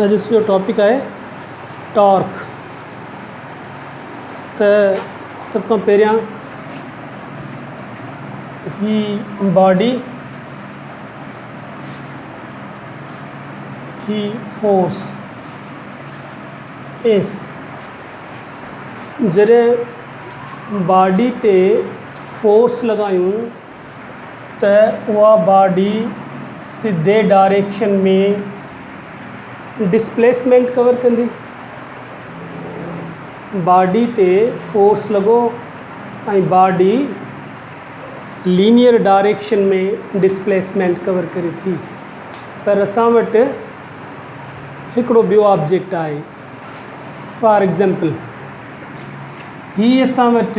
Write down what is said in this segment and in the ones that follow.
اڄ جو ٽاپڪ آهي ٽارڪ ته سڀ کان پهريان هي باڊي هي فورس ايف جڏهن باڊي تي فورس لڳايون ته اها باڊي سڌي ڊائريڪشن ۾ ڊسپليسمينٽ ڪور ڪندي. باڊي تي فورس لڳو ۽ body linear direction ۾ displacement cover ڪري ٿي پر اسان وٽ هڪڙو ٻيو آبجيڪٽ آهي فار ايگزامپل هي اسان وٽ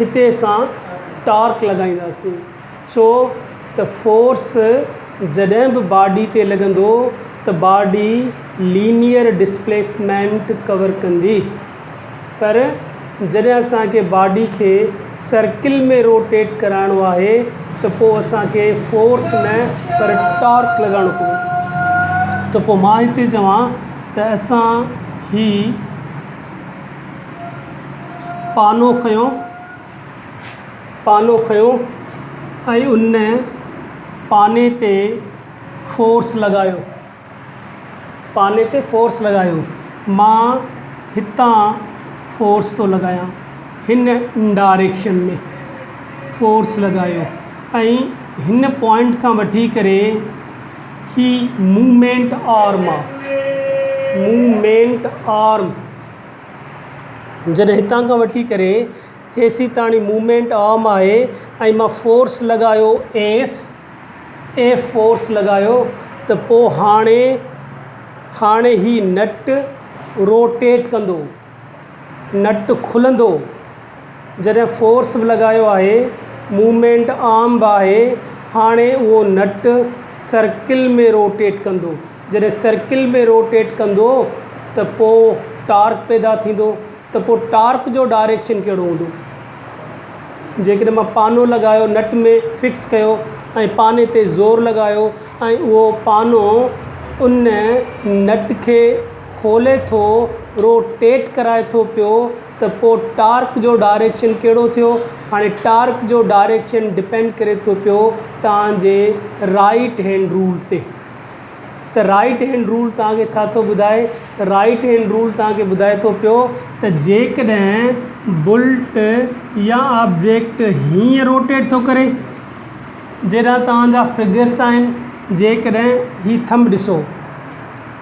هتي اسان ٽارڪ لڳائينداسين ڇو ته فورس جڏهن به باڊي تي لڳندو ته باڊي لينيئر ڊسپليسمينٽ ڪور ڪندي پر جڏهن اسان کي باڊي کي سرڪل ۾ روٽيٽ ڪرائڻو آهي ته پوء اسان کي فورس نه پر ٽارڪ لڳائڻو پوندو ته پوء مان هتي چوان ته اسان هي پانو کنيو پانو کنيو ۽ ان پاني تي فورس لڳايو پاني تي فورس لڳايو مان هتان فورس ٿو لڳايان هن ڊائريڪشن ۾ فورس لڳايو ۽ هن پوائنٽ کان وٺي ڪري هي موومينٽ آرم آ موومينٽ آرم جڏهن هتان کان وٺي ڪري اي سي تائين موومينٽ آرم آهي ۽ مان فورس لڳايو ايف ايف فورس لڳايو ته پوء هاڻي هاڻي هي نٽ روٽيٽ ڪندو نٽ کلندو جڏهن فورس به لڳايو آهي موومينٽ آرم به آهي هاڻي اهو نٽ سرڪل ۾ روٽيٽ ڪندو جڏهن سرڪل ۾ روٽيٽ ڪندو ته پوء ٽارڪ پيدا ٿيندو ته پوء ٽارڪ جو ڊائريڪشن ڪهڙو هوندو جيڪڏهن مان پانو لڳايو نٽ ۾ فڪس ڪيو ۽ پاني تي زور لڳايو ۽ اهو پانو ان نٽ کي کولي ٿو روٽيٽ ڪرائي ٿو پيو ته پوء ٽارڪ جو ڊائريڪشن ڪهڙو ٿيو هاڻي ٽارڪ جو ڊائريڪشن ڊپينڊ ڪري ٿو پيو توهان جي رائيٽ هينڊ رول تي ته رائيٽ هينڊ رول توهان کي ڇا ٿو ٻڌائي ته رائيٽ هينڊ رول توهان کي ٻڌائي ٿو پيو ته جيڪڏهن بلٽ يا آبجيڪٽ هيئن روٽيٽ ٿو ڪري جيڏانهن توهان جا فگرس آهن جيڪڏهن هي ٿم ڏسو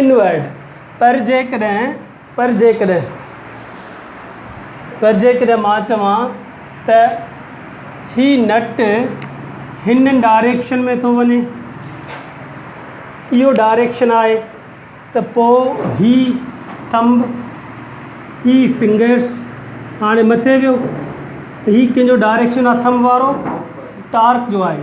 انورڊ، پر جيڪڏهن، پر جيڪڏهن، پر جيڪڏهن مان چوان ته هي نٽ هن ڊائريڪشن ۾ ٿو وڃي، اهو ڊائريڪشن آهي، ته پوء هي ٿنب، هي فنگرس، هاڻي مٿي ويو، ته هي ڪنهن جو ڊائريڪشن آهي ٿنب وارو؟ ٽارڪ جو آهي.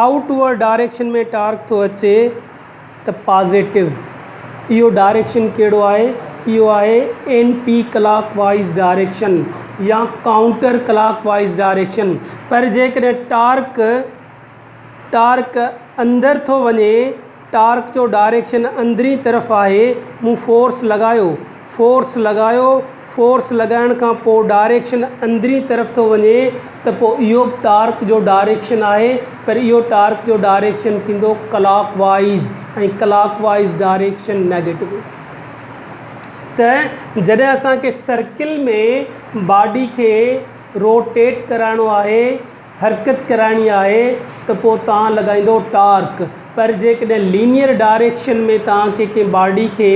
آئوٽ ورڊ ڊائريڪشن ۾ ٽارڪ ٿو اچي ته پازيٽو. اهو ڊائريڪشن ڪهڙو آهي؟ اهو آهي اينٽي ڪلاڪ وائيز ڊائريڪشن يا ڪائونٽر ڪلاڪ وائيز ڊائريڪشن. پر جيڪڏهن ٽارڪ ٽارڪ اندر ٿو وڃي. ٽارڪ جو ڊائريڪشن اندرين طرف آهي مون فورس لڳايو فورس لڳايو فورس لڳائڻ کان پوء ڊائريڪشن اندرين طرف ٿو وڃي ته پوء اهو به ٽارڪ جو ڊائريڪشن آهي پر اهو ٽارڪ جو ڊائريڪشن ٿيندو ڪلاڪ وائيز ۽ ڪلاڪ وائيز ڊائريڪشن نيگيٽو ٿيندو ته جڏهن اسان کي سرڪل ۾ باڊي کي روٽيٽ ڪرائڻو آهي حرڪت ڪرائڻي آهي ته پوء توهان لڳائيندو ٽارڪ پر جيڪڏهن لينيئر ڊائريڪشن ۾ توهان کي ڪنهن باڊي کي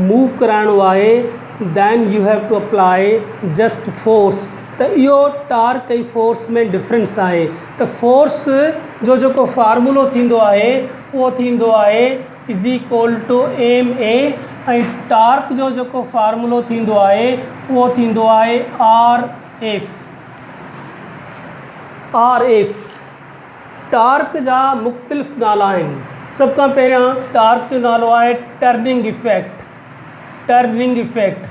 موو ڪرائڻو آهي Then you have to apply just force ته اهو ٽارڪ ۽ فورس ۾ ڊفرنس آهي ته فورس جو جيڪو فارمولو ٿيندو آهي اهو ٿيندو آهي Is equal to ma ۽ torque جو جيڪو فارمولو ٿيندو آهي اهو ٿيندو آهي R F R F torque جا مختلف نالا آهن سڀ کان پهريان ٽارڪ جو نالو آهي turning effect turning effect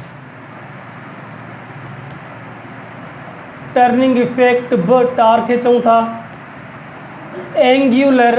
turning effect به ٽارڪ کي چئون ٿا اينگيولر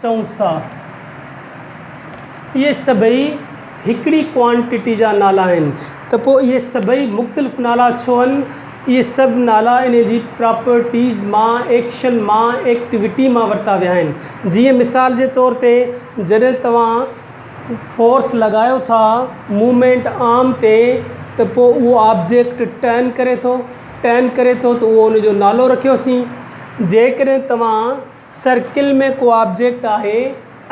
چئونس ٿا. اهي سڀئي هڪڙي ڪوانٽٽي جا نالا آهن ته پوء اهي سڀئي مختلف نالا ڇو آهن؟ اهي سڀ نالا انهي جي پراپرٽيز مان، ايڪشن مان، ايڪٽيوٽي مان ورتا ويا آهن. جيئن مثال جي طور تي جڏهن توهان فورس لڳايو ٿا موومينٽ آرم تي ته پوء اهو آبجيڪٽ ٽرن ڪري ٿو، ٽرن ڪري ٿو ته اهو ان جو نالو رکيوسين. جيڪڏهن توهان. سرڪل ۾ ڪو آبجيڪٽ آهي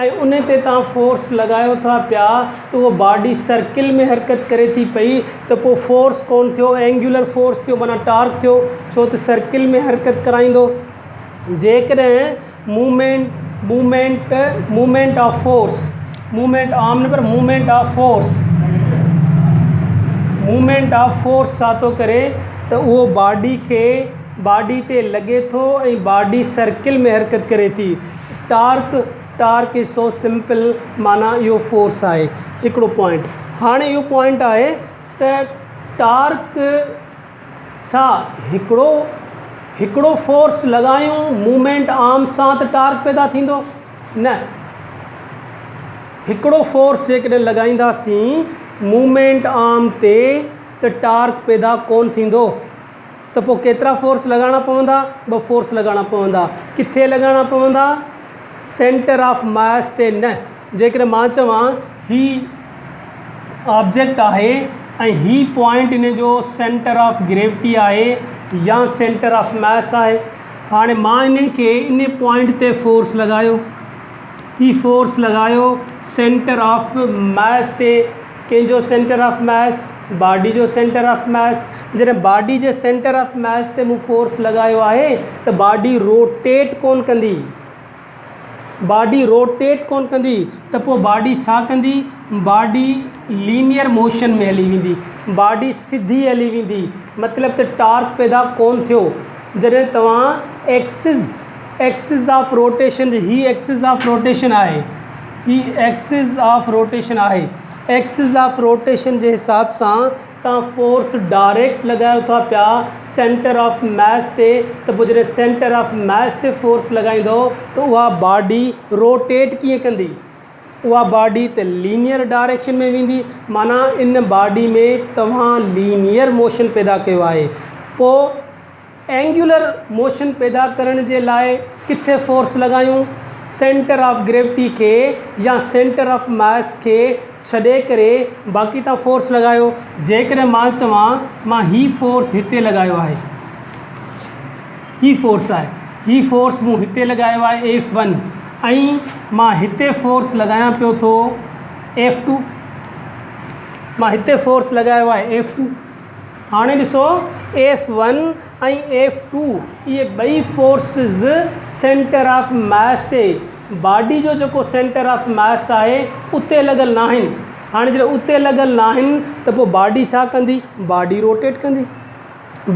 ۽ ان تي توهان فورس لڳايو ٿا پيا ته اهو باڊي سرڪل ۾ حرڪت ڪري ٿي پئي ته پوء فورس ڪونه ٿيو اينگيولر فورس ٿيو معنيٰ ٽارڪ ٿيو ڇو ته سرڪل ۾ حرڪت ڪرائيندو جيڪڏهن movement movement movement of force movement عام نه پر movement of force movement of force ڇا ٿو ڪري ته اهو باڊي کي باڊي تي لڳي ٿو ۽ باڊي سرڪل ۾ حرڪت ڪري ٿي. Torque, Torque، is so simple معنيٰ اهو فورس آهي. هڪڙو پوائنٽ هاڻي اهو پوائنٽ آهي ته ٽارڪ ڇا هڪڙو هڪڙو فورس لڳايون موومينٽ آرم سان ته ٽارڪ پيدا ٿيندو؟ نه هڪڙو فورس جيڪڏهن لڳائينداسين موومينٽ آرم تي ته ٽارڪ پيدا ڪونه ٿيندو. ته پوء ڪيترا فورس لڳائڻا پوندا؟ ٻه فورس لڳائڻا پوندا. ڪٿي لڳائڻا پوندا؟ سينٽر آف ماس تي نه. جيڪڏهن مان چوان هي آبجيڪٽ آهي ۽ هي پوائنٽ ان جو سينٽر آف گريوٽي آهي يا سينٽر آف ماس آهي. هاڻي مان انهي کي انهي پوائنٽ تي فورس لڳايو. هي فورس لڳايو سينٽر آف ماس تي. ڪنهن جو سينٽر آف ميس، باڊي جو سينٽر آف ميس، جڏهن باڊي جي سينٽر آف ميس تي مون فورس لڳايو آهي ته باڊي روٽيٽ ڪونه ڪندي، باڊي روٽيٽ ڪونه ڪندي ته پوء باڊي ڇا ڪندي؟ باڊي لينيئر موشن ۾ هلي ويندي، باڊي سڌي هلي ويندي، مطلب ته ٽارڪ پيدا ڪونه ٿيو، جڏهن توهان ايڪسز. ايڪسز آف روٽيشن جي هي ايڪسز آف روٽيشن آهي هي ايڪسز آف روٽيشن آهي ايڪسز آف روٽيشن جي حساب سان تان فورس ڊائريڪٽ لڳايو ٿا پيا سينٽر آف ميس تي ته پوء جڏهن سينٽر آف ميس تي فورس لڳائيندو ته اها باڊي روٽيٽ ڪيئن ڪندي اها باڊي ته لينئر ڊائريڪشن ۾ ويندي معنيٰ ان باڊي ۾ توهان لينئر موشن پيدا ڪيو آهي پوء اينگيولر موشن پيدا ڪرڻ جي لاء ڪٿي فورس لڳايون؟ سينٽر آف گريوٽي کي يا سينٽر آف ماس کي ڇڏي ڪري باقي تان فورس لڳايو. جيڪڏهن مان چوان مان هي فورس هتي لڳايو آهي هي فورس آهي هي فورس مون هتي لڳايو آهي ايف ون ۽ مان هتي فورس لڳايان پيو ٿو ايف ٽو مان هتي فورس لڳايو آهي ايف ٽو هاڻي ڏسو ايف ون ۽ ايف ٽو اهي ٻئي فورسز سينٽر آف ماس تي باڊي جو جيڪو سينٽر آف ماس آهي اتي لڳل ناهن هاڻي جڏهن اتي لڳل ناهن ته پوء باڊي ڇا ڪندي باڊي روٽيٽ ڪندي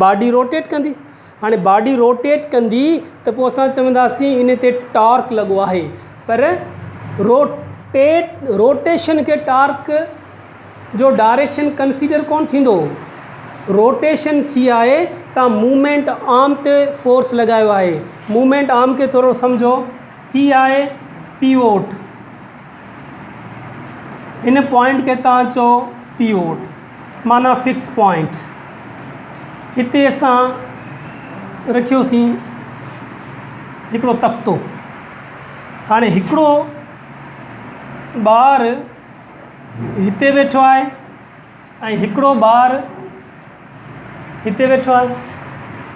باڊي روٽيٽ ڪندي هاڻي باڊي روٽيٽ ڪندي ته پوء اسان چونداسين ان تي ٽارڪ لڳو آهي پر روٽيٽ روٽيشن کي ٽارڪ جو ڊائريڪشن ڪنسيڊر ڪونه ٿيندو روٽيشن ٿي آهي تان موومينٽ آرم تي فورس لڳايو آهي موومينٽ آرم کي ٿورو سمجهو هي آهي پيووٽ ان پوائنٽ کي تان چئو پيوٽ معنيٰ فڪس پوائنٽ هتي اسان رکيوسين هڪڙو تختو هاڻي هڪڙو ٻار هتي ويٺو آهي ۽ هڪڙو ٻار هتي ويٺو آهي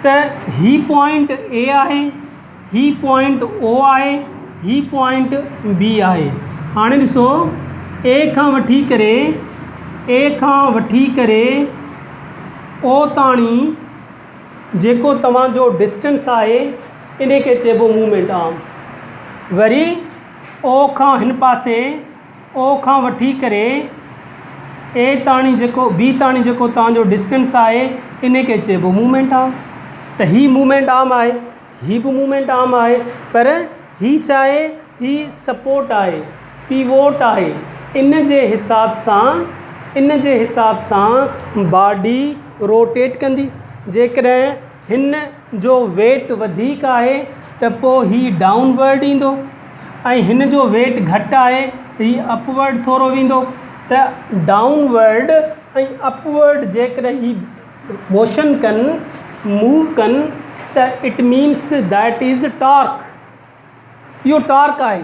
ته هي پوائنٽ اي آهي هي پوائنٽ او آهي هي پوائنٽ بي آهي هاڻي ڏسو اي کان وٺي ڪري اي کان وٺي ڪري او تاڻي جيڪو توهان جو ڊسٽنس آهي ان کي چئبو مومينٽ آرم وري او کان هن پاسي او کان وٺي ڪري اي تاڻي جيڪو بي تاڻي جيڪو توهان جو ڊسٽنس آهي ان کي چئبو مومينٽ آرم ته هي مومينٽ آرم آهي هي به مومينٽ آرم آهي پر هي ڇا آهي هي سپورٽ آهي پيووٽ آهي ان جي حساب سان ان جي حساب سان باڊي روٽيٽ ڪندي جيڪڏهن هن جو ويٽ وڌيڪ آهي ته پوء هي ڊائون ورڊ ايندو ۽ هن جو ويٽ گهٽ آهي ته هي اپ ورڊ ٿورو ويندو ته ڊائون ورڊ ۽ اپ ورڊ جيڪڏهن هي موشن ڪن موو ڪن ته it means that is torque اهو ٽارڪ آهي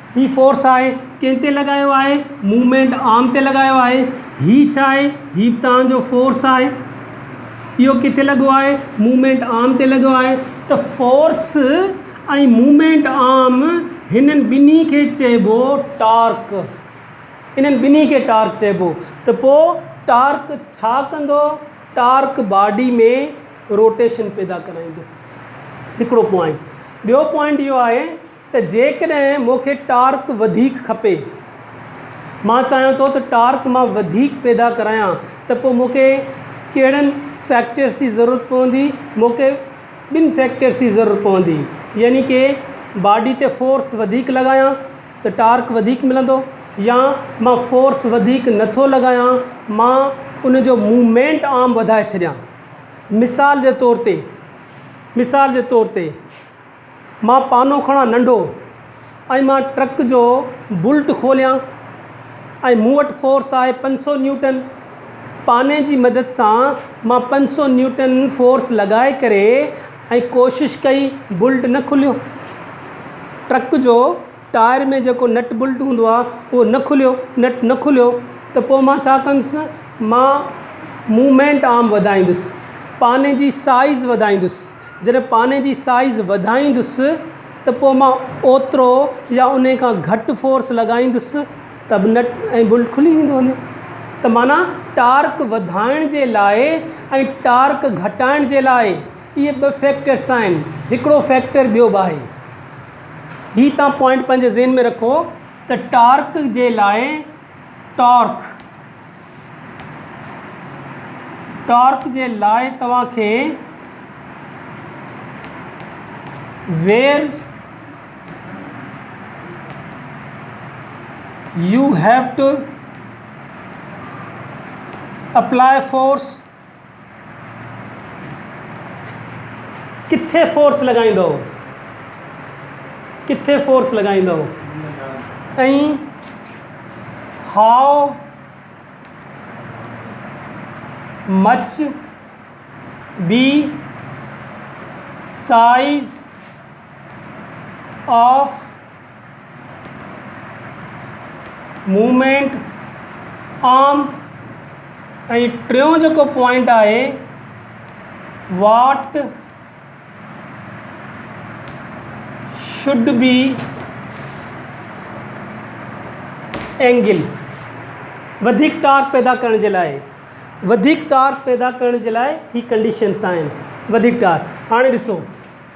هي فورس آهي ڪنهن تي لڳايو آهي موومينٽ آرم تي لڳايو آهي هي ڇا آهي هي به توهان جو فورس آهي اهو ڪٿي لڳو آهي موومينٽ آرم تي لڳو آهي ته فورس ۽ موومينٽ آرم هنن ٻنهي کي چئبو ٽارڪ انهن ٻنهي کي ٽارڪ چئبو ته پوء ٽارڪ ڇا ڪندو ٽارڪ باڊي ۾ روٽيشن پيدا ڪرائيندو هڪڙو پوائنٽ ٻيو پوائنٽ اهو آهي ته جيڪڏهن مون کي ٽارڪ وڌيڪ کپي، مان چاهيان ٿو ته ٽارڪ مان وڌيڪ پيدا ڪرايان ته پوء مون کي ڪهڙن فيڪٽرس جي ضرورت پوندي، مون کي ٻن فيڪٽرس جي ضرورت پوندي يعني ڪي باڊي تي فورس وڌيڪ لڳايان ته ٽارڪ وڌيڪ ملندو يا مان فورس وڌيڪ نه ٿو لڳايان مان ان جو موومينٽ آرم وڌائي ڇڏيان مثال جي طور تي مثال جي طور تي مان پانو کڻان ننڍو ۽ مان ٽرڪ جو بولٽ کوليان ۽ مون وٽ فورس آهي پنج سو نيوٽن پاني جي مدد سان مان پنج سو نيوٽن فورس لڳائي ڪري ۽ ڪوشش ڪئي بولٽ نه کليو ٽرڪ جو ٽائر ۾ جيڪو نٽ بولٽ هوندو آهي اهو نه کليو نٽ نه کليو ته پوء مان ڇا ڪندس مان موومينٽ آرم وڌائيندس پاني جي سائيز وڌائيندس جڏهن پاني جي سائيز وڌائيندس ته پوء مان اوترو يا انهي کان گهٽ فورس لڳائيندس ته به نٽ ۽ بولٽ کلي ويندو وڃي ته معنيٰ ٽارڪ وڌائڻ جي لاء ۽ ٽارڪ گهٽائڻ جي لاء اهي ٻه فيڪٽرس آهن هڪڙو فيڪٽر ٻيو به آهي هي تان پوائنٽ پنهنجي ذهن ۾ رکو ته ٽارڪ جي لاء ٽارڪ ٽارڪ جي لاء توهان کي Where you have to apply force ڪٿي فورس لڳائيندؤ؟ ڪٿي فورس لڳائيندؤ؟ ۽ How much be size of movement arm ۽ ٽيون جيڪو پوائنٽ آهي واٽ شڊ بي اينگل وڌيڪ ٽارڪ پيدا ڪرڻ جي لاء وڌيڪ ٽارڪ پيدا ڪرڻ جي لاء هي ڪنڊيشنس آهن وڌيڪ ٽارڪ هاڻي ڏسو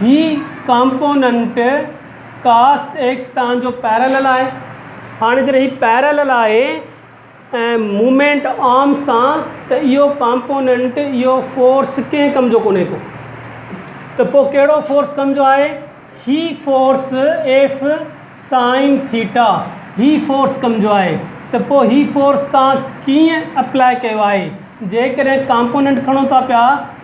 هي ڪامپوننٽ ڪاس ايڪس تان جو پيرلل آهي هاڻي جڏهن هي پيرلل آهي ۽ مومينٽ آرم سان ته اهو ڪامپوننٽ اهو فورس ڪنهن ڪم جو ڪونهي ڪو ته پوء ڪهڙو فورس ڪم جو آهي هي فورس ايف سائن ٿيٽا هي فورس ڪم جو آهي ته پوء هي فورس تان ڪيئن اپلائي ڪيو آهي جيڪڏهن ڪامپوننٽ کڻو ٿا پيا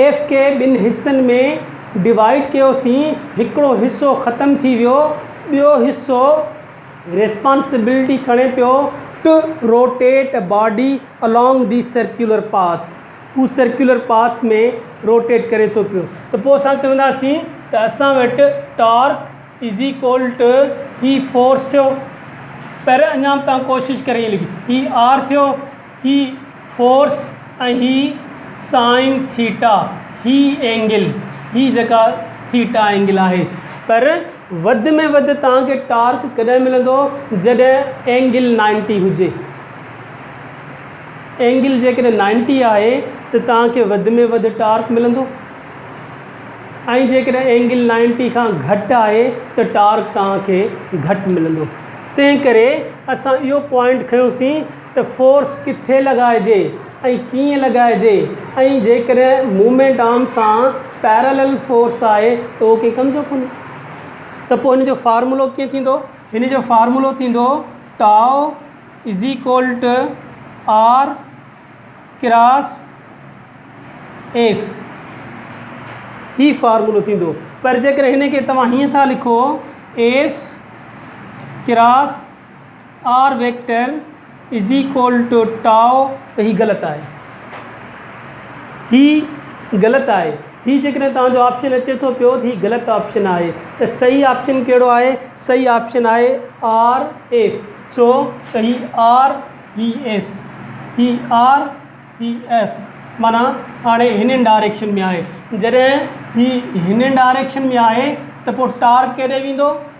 ايف کي ٻن حصن ۾ ڊوائيڊ ڪيو سين هڪڙو حصو ختم ٿي ويو ٻيو حصو ريسپانسبلٽي کڻي پيو to rotate a body along the circular path هو سرڪيولر پاٿ ۾ روٽيٽ ڪري ٿو پيو ته پوء اسان چونداسين ته اسان وٽ ٽارڪ از ايڪول ٽو هي فورس ٿيو پر اڃا به تان ڪوشش ڪري هي آر ٿيو هي فورس ۽ هي سائن ٿيٽا، هي اينگل، هي جيڪا ٿيٽا اينگل آهي پر وڌ ۾ وڌ توهان کي ٽارڪ ڪڏهن ملندو جڏهن اينگل نائنٽي هجي اينگل جيڪڏهن نائنٽي آهي ته توهان کي وڌ ۾ وڌ ٽارڪ ملندو ۽ جيڪڏهن اينگل نائنٽي کان گهٽ آهي ته ٽارڪ توهان کي گهٽ ملندو تنهن ڪري اسان اهو پوائنٽ کنيوسين ته فورس ڪٿي لڳائجي ۽ ڪيئن لڳائجي ۽ جيڪڏهن موومينٽ آرم سان پيرالل فورس آهي ته اهو ڪنهن ڪم جو ڪونهي ته پوء هن جو فارمولو ڪيئن ٿيندو؟ هن جو فارمولو ٿيندو tau is equal to R cross F هي فارمولو ٿيندو پر جيڪڏهن هن کي توهان هيئن ٿا لکو F cross R vector is equal to tau ته هي غلط آهي هي غلط آهي هي جيڪڏهن توهان جو آپشن اچي ٿو پيو هي غلط آپشن آهي ته صحيح آپشن ڪهڙو آهي صحيح آپشن آهي آر ايف ڇو ته هي آر هي ايف هي آر هي ايف معنيٰ هاڻي هنن ڊائريڪشن ۾ آهي جڏهن هي هنن ڊائريڪشن ۾ آهي ته پوء ٽارڪ ڪيڏي ويندو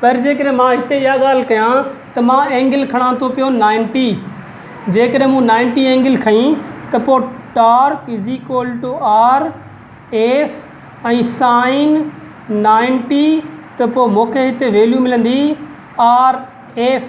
پر جيڪڏهن مان هتي اها ڳالهه ڪيان ته مان اينگل کڻان ٿو پيو نائنٽي جيڪڏهن مون نائنٽي اينگل کنئي ته پوء torque is equal to R F ۽ sine ninety ته پوء مون کي هتي ويليو ملندي R F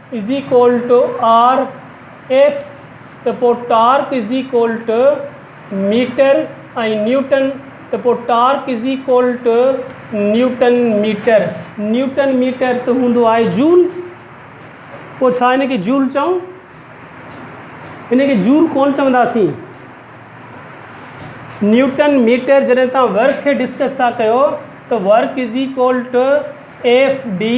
is equal to R F ته پوء torque is equal to metre ۽ newton ته پوء torque is equal to newton metre newton metre ته هوندو آهي جول پوء ڇا هن کي جول چئون هن کي جول ڪون چونداسين نيوٽن ميٽر جڏهن تان ورڪ کي ڊسڪس ٿا ڪيو ته work is equal to F D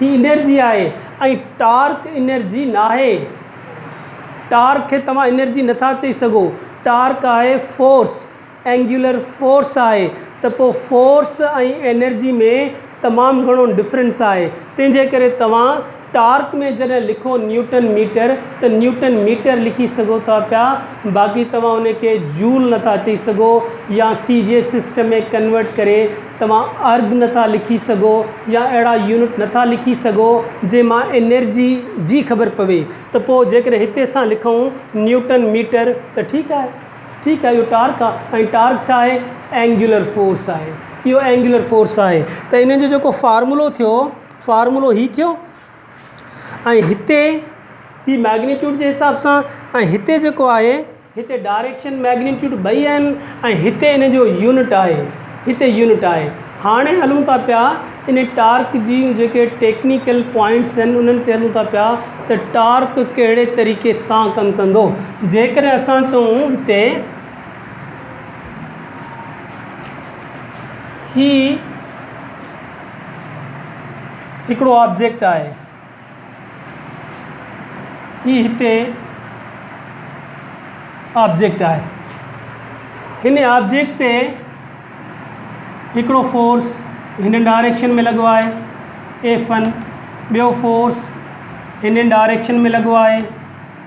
هي انرجي آهي ۽ ٽارڪ انرجي ناهي. ٽارڪ کي توهان انرجي نٿا چئي سگهو. ٽارڪ آهي فورس، اينگيولر فورس آهي ته پوء فورس ۽ انرجي ۾ تمام گهڻو ڊفرنس آهي. تنهن جي ڪري توهان ٽارڪ ۾ جڏهن لکو نيوٽن ميٽر ته نيوٽن ميٽر لکي سگهو ٿا پيا باقي توهان ان کي جول نٿا چئي سگهو يا سي جي سسٽم ۾ ڪنورٽ ڪري توهان ارگ نٿا لکي سگهو يا اهڙا يونٽ نٿا لکي سگهو جنهن مان انرجي جي خبر پوي ته پوء جيڪڏهن هتي اسان لکون نيوٽن ميٽر ته ٺيڪ آهي ٺيڪ آهي اهو ٽارڪ آهي ۽ ٽارڪ ڇا آهي اينگيولر فورس آهي اهو اينگيولر فورس آهي ته انهن جو جيڪو فارمولو ٿيو فارمولو هي ٿيو ۽ هتي هي ميگنيٽيوڊ جي حساب سان ۽ هتي جيڪو آهي هتي ڊائريڪشن مئگنيٽيوڊ ٻئي آهن ۽ هتي ان جو يونٽ آهي هتي يونٽ آهي هاڻي هلون ٿا پيا ان ٽارڪ جي جيڪي ٽيڪنيڪل پوائنٽس آهن انهن تي هلون ٿا پيا ته ٽارڪ ڪهڙي طريقي سان ڪم ڪندو جيڪڏهن اسان چئون هتي هي هڪڙو آبجيڪٽ آهي هي هتي آبجيڪٽ آهي هن آبجيڪٽ تي هڪڙو فورس هن ڊائريڪشن ۾ لڳو آهي ايف ون ٻيو فورس هن ڊائريڪشن ۾ لڳو آهي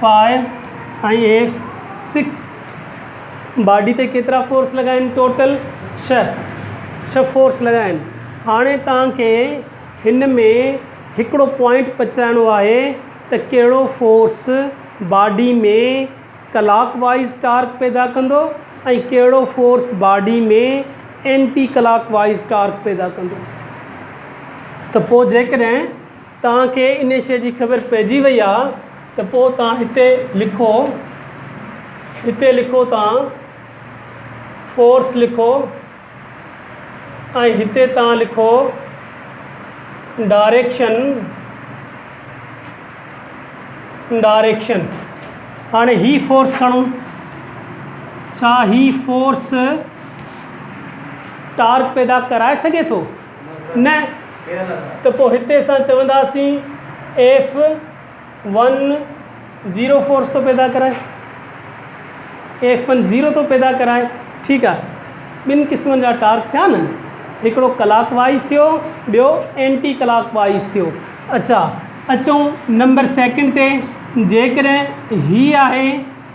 فائو ۽ ايف سڪس باڊي تي ڪيترا فورس لڳا آهن ٽوٽل ڇهه ڇهه فورس لڳا آهن هاڻي تان کي هن ۾ هڪڙو پوائنٽ پچرائڻو آهي ته ڪهڙو فورس باڊي ۾ ڪلاڪ وائيز ٽارڪ پيدا ڪندو ۽ ڪهڙو فورس باڊي ۾ اينٽي ڪلاڪ وائيز ٽارڪ پيدا ڪندو ته پوء جيڪڏهن توهان کي ان شيء جي خبر پئجي وئي آ ته پوء توهان هتي لکو هتي لکو توهان فورس لکو ۽ هتي توهان لکو ڊاريڪشن ڊاريڪشن هاڻي هي فورس کڻو ڇا هي فورس ٽارڪ پيدا ڪرائي سگهي ٿو نه ته پوء هتي اسان چونداسين ايف ون زيرو فورس ٿو پيدا ڪرائي ايف ون زيرو ٿو پيدا ڪرائي ٺيڪ آهي ٻن قسمن جا ٽارڪ ٿيا نه هڪڙو ڪلاڪ وائز ٿيو ٻيو اينٽي ڪلاڪ وائز ٿيو اچا اچون نمبر سيڪنڊ تي جيڪڏهن هي آهي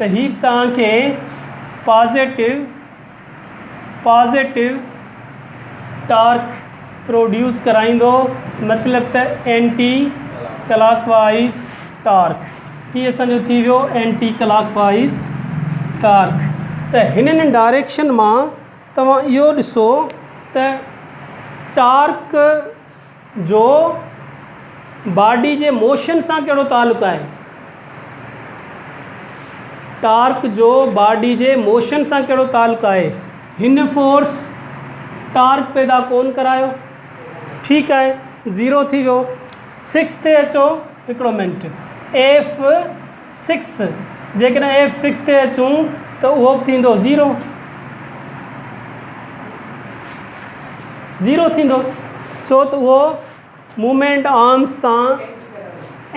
ته هي توهان کي پازيٽو Positive ٽارڪ پروڊيوس ڪرائيندو مطلب ته اينٽي ڪلاڪ وائيز ٽارڪ هي اسان جو ٿي ويو اينٽي ڪلاڪ وائيز ٽارڪ ته هنن ڊائريڪشن مان توهان اهو ڏسو ته ٽارڪ جو باڊي جي موشن سان ڪهڙو تعلق آهي؟ ٽارڪ جو باڊي جي موشن سان ڪهڙو تعلق آهي؟ هن فورس ٽارڪ پيدا ڪون ڪرايو. ٺيڪ آهي زيرو ٿي ويو سڪس تي اچو هڪڙو منٽ ايف سڪس، جيڪڏهن ايف سڪس تي اچون ته اهو به ٿيندو زيرو، زيرو ٿيندو ڇو ته اهو مومينٽ آرمز سان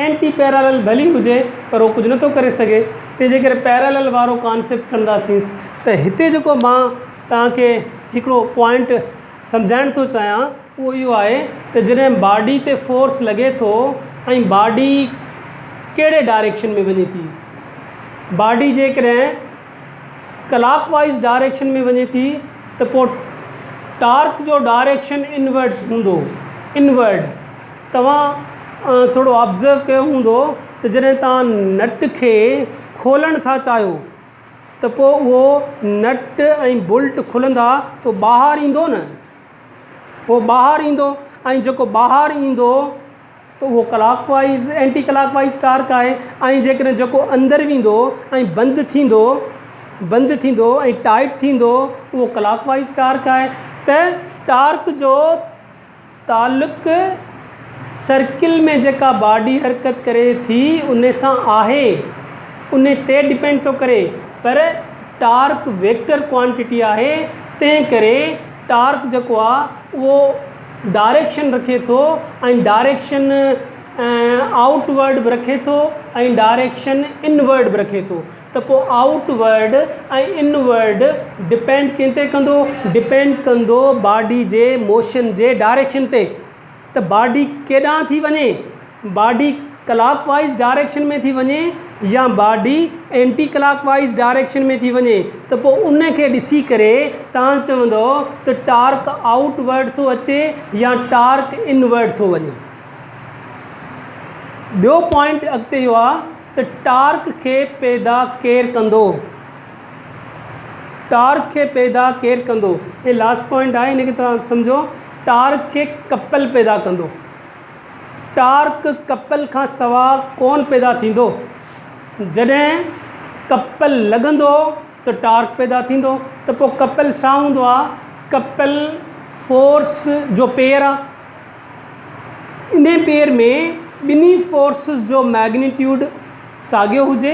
اينٽي پيرالل ڀلي هجي پر اهو ڪجهه نٿو ڪري سگهي تنهن جي ڪري پيرالل وارو ڪانسيپٽ ڪنداسين ته هتي جيڪو مان توهان کي هڪڙو پوائنٽ سمجهائڻ ٿو چاهيان اهو اهو آهي ته جڏهن باڊي تي فورس لڳي ٿو ۽ باڊي ڪهڙي ڊائريڪشن ۾ وڃي ٿي. باڊي جيڪڏهن ڪلاڪ وائيز ڊائريڪشن ۾ وڃي ٿي ته پوء ٽارڪ جو ڊائريڪشن انورٽ هوندو. Inward. توهان ٿورو آبزرو ڪيو هوندو ته جڏهن توهان نٽ کي کولڻ ٿا چاهيو ته پوء اهو نٽ ۽ بولٽ کلندا تو ٻاهر ايندو نه. اهو ٻاهر ايندو ۽ جيڪو ٻاهر ايندو ته اهو ڪلاڪ وائيز اينٽي ڪلاڪ وائيز ٽارڪ آهي ۽ جيڪڏهن جيڪو اندر ويندو ۽ بند ٿيندو بند ٿيندو ۽ ٽائٽ ٿيندو اهو ڪلاڪ وائيز ٽارڪ آهي ته ٽارڪ جو تعلق سرڪل ۾ جيڪا باڊي حرڪت ڪري ٿي ان سان آهي ان تي ڊپينڊ ٿو ڪري پر ٽارڪ ويڪٽر ڪوانٽٽي آهي تنهن ڪري ٽارڪ جيڪو آ اهو ڊائريڪشن رکي ٿو ۽ ڊائريڪشن آئوٽ ورڊ به رکي ٿو ۽ ڊائريڪشن ان ورڊ به رکي ٿو ته پو outward ۽ inward depend ڪنهن تي ڪندو ڊپينڊ ڪندو باڊي جي موشن جي ڊائريڪشن تي ته باڊي ڪيڏانهن ٿي وڃي، باڊي ڪلاڪ وائيز ڊائريڪشن ۾ ٿي وڃي يا باڊي اينٽي ڪلاڪ وائيز ڊائريڪشن ۾ ٿي وڃي ته پوء ان کي ڏسي ڪري توهان چوندو ته ٽارڪ آئوٽ ورڊ ٿو اچي يا ٽارڪ ان ورڊ ٿو وڃي. ٻيو پوائنٽ اڳتي اهو آهي ته ٽارڪ کي پيدا ڪير ڪندو؟ ٽارڪ کي پيدا ڪير ڪندو؟ هي لاسٽ پوائنٽ آهي ان کي توهان سمجهو ٽارڪ کي ڪپل پيدا ڪندو. ٽارڪ ڪپل کان سوا ڪونه پيدا ٿيندو. جڏهن ڪپل لڳندو ته ٽارڪ پيدا ٿيندو ته پوء ڪپل ڇا هوندو آهي؟ ڪپل فورس جو پيئر آهي. ان پيئر ۾ ٻنهي فورسز جو مئگنيٽيوڊ ساڳيو هجي.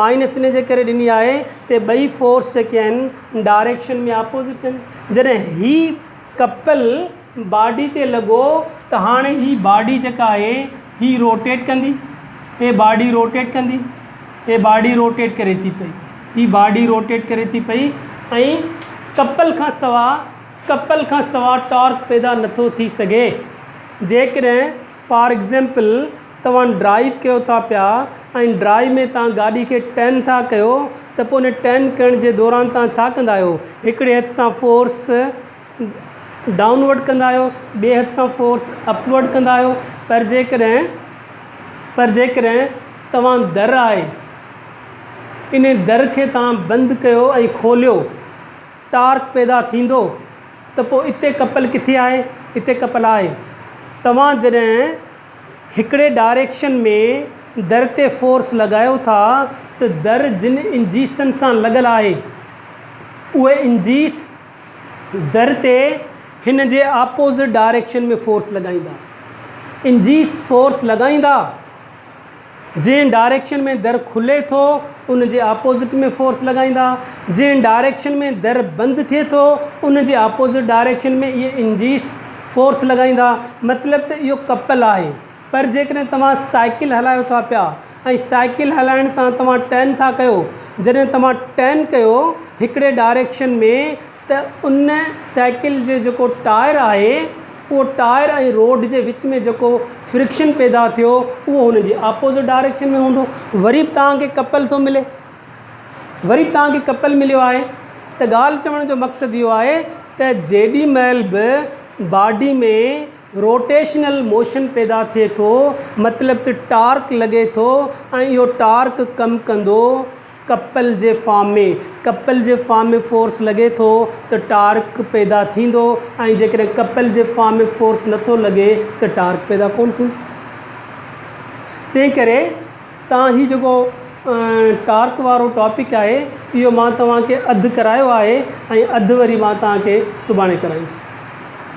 مائنس ان جي ڪري ڏني آهي تي ٻئي فورس جيڪي آهن ڊائريڪشن ۾ آپوزٽ آهن جڏهن هي ڪپل باڊي تي لڳو ته هاڻي هي باڊي جيڪا آهي هي روٽيٽ ڪندي هي باڊي روٽيٽ ڪندي هي باڊي روٽيٽ ڪري ٿي پئي هي باڊي روٽيٽ ڪري ٿي پئي ۽ ڪپل کان سوا ڪپل کان سوا ٽارڪ پيدا نٿو ٿي سگهي جيڪڏهن فار ايگزيمپل توهان ڊرائيو ڪيو ٿا پيا ۽ ڊرائيو ۾ توهان گاڏي کي ٽرن ٿا ڪيو ته پوء ان ٽرن ڪرڻ جي دوران توهان ڇا ڪندا آهيو هڪڙي هٿ سان فورس ڊائون ورڊ ڪندا آهيو ٻئي هٿ سان فورس اپ ورڊ ڪندا آهيو پر جيڪڏهن پر جيڪڏهن توهان در آهي ان در کي توهان بند ڪيو ۽ کوليو ٽارڪ پيدا ٿيندو ته پوء اتي ڪپل ڪٿي آهي؟ اتي ڪپل آهي. توهان جڏهن هڪڙي ڊائريڪشن ۾ در تي فورس لڳايو ٿا ته در جن انجيسن سان لڳل آهي اهي انجيس در تي هن جي آپوزٽ ڊائريڪشن ۾ فورس لڳائيندا. انجيس فورس لڳائيندا. جنهن ڊائريڪشن ۾ در کلي ٿو ان جي اپوزٽ ۾ فورس لڳائيندا جنهن ڊائريڪشن ۾ در بند ٿئي ٿو ان جي اپوزٽ ڊائريڪشن ۾ اهي انجيس فورس لڳائيندا مطلب ته اهو ڪپل آهي پر جيڪڏهن توهان سائيڪل هلايو ٿا پيا ۽ سائيڪل هلائڻ سان توهان ٽرن ٿا ڪيو جڏهن توهان ٽرن ڪيو هڪڙي ڊائريڪشن ۾ ته ان سائيڪل جو جيڪو ٽائر آهي اهو ٽائر ۽ روڊ جي وچ ۾ جيڪو فرڪشن پيدا ٿيو اهو هن جي آپوزٽ ڊائريڪشن ۾ هوندو وري به توهان کي ڪپل ٿو ملي وري به توهان کي ڪپل مليو آهي ته ڳالهه چوڻ جو مقصد اهو آهي ته جيڏي مهل به باڊي ۾ روٽيشنل موشن پيدا ٿئي ٿو مطلب ته ٽارڪ لڳي ٿو ۽ اهو ٽارڪ ڪم ڪندو ڪپل جي فارم ۾، ڪپل جي فارم ۾ فورس لڳي ٿو ته ٽارڪ پيدا ٿيندو ۽ جيڪڏهن ڪپل جي فارم ۾ فورس نه ٿو لڳي ته ٽارڪ پيدا ڪونه ٿيندو. تنهن ڪري تان هي جيڪو ٽارڪ وارو ٽاپڪ آهي اهو مان توهان کي اڌ ڪرايو آهي ۽ اڌ وري مان توهان کي سڀاڻي ڪرائينس.